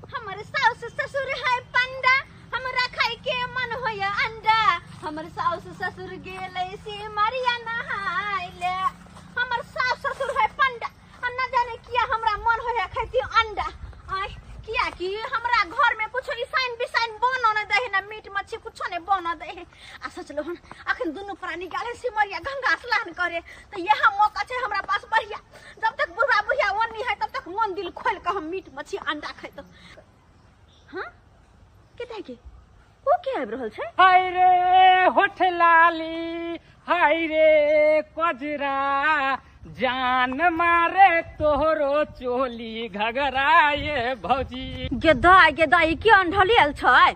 हमर साउस ससुर है पंडा हमरा खाए के मन होया अंडा हमर साउस ससुर गेले से मरिया नहाइले हमर साउस ससुर है पंडा हम न जाने किया हमरा मन होया खाती अंडा आय किया कि हमरा घर में कुछ ईसाइन बिसाइन बनो न दे ना मीट मच्छी कुछ ने बनो दे आ सोचलो हन अखन दुनू प्राणी गाले से मरिया गंगा स्नान करे तो यह मौका छै हमरा पास बढ़िया जब तक बुढ़ा बुढ़िया ओनी है तब तक मन दिल खोल के हम मीट मछली अंडा खैत हाँ केता के ओ के आबि रहल छै हाय रे होठ लाली हाय रे कजरा जान मारे तोहरो चोली घगरा ये भौजी गेदा गेदा ई के अंढलियल छै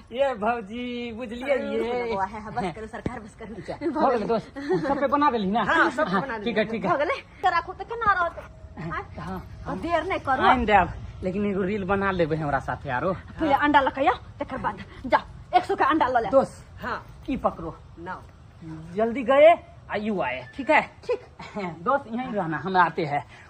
ये भौजी बुझलियै ये बौआ है हाँ, बस करू सरकार बस करू हो गेलै दोस्त सब पे बना देली ना हाँ, सब पे बना देली। ठीक है ठीक हो है गेलै तऽ राखू तऽ केना रहत आँय? हाँ, आ देर नहि करू आइन देब लेकिन एगो रील बना लेबै हमरा साथे आरो पहिले अंडा लऽ कऽ आउ तकर बाद जा एक सौ के अंडा लऽ ले दोस्त हाँ ई पकड़ो ना जल्दी गए आ यू आए ठीक है ठीक दोस्त यहीं रहना हम आते हैं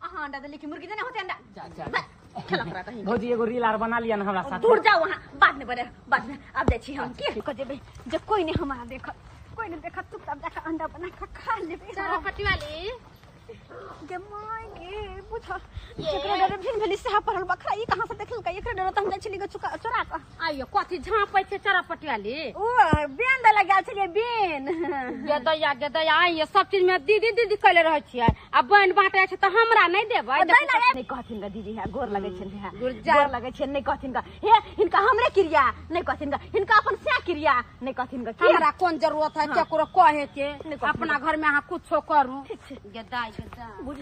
अहाँ अंडा देली कि मुर्गी देने होते अंडा जा, जा। बस, खेला करा कहीं भौजी एगो रील आर बना लिया ना हमरा साथ दूर जाओ वहाँ बाद में बड़े बाद में अब जाइ छी हम की कह देबै जे कोई ने हमारा देखत कोई ने देखत तू तब जाके अंडा बना के खा लेबै सारा फटी वाली गे माय गे बुझ एकरा डरे भिन भेली से पड़ल बखरा ई कहां से देखलकै एकरा डरे त हम जाइ छली गे चुका चोरा क आइयो कथी झाँपै छै चरपटिया ले ओ बेन दे लगा छलिए बेन गेदैया गेदैया आइयो सब चीज में दीदी दीदी कहले रहै छियै आ बहन बाँटे छै तऽ हमरा नहि देबै दै ना नहीं कहथिन का दीदी है गोर लगे छन है गोर जा- गोर लगे छन नहीं कहथिन का हे इनका हमरे क्रिया नहीं कहथिन का इनका अपन से क्रिया नहीं कहथिन का की हमरा कोन जरूरत है केकरो कहे के अपना घर में अहाँ कुछो करू गेदाइ गेदाइ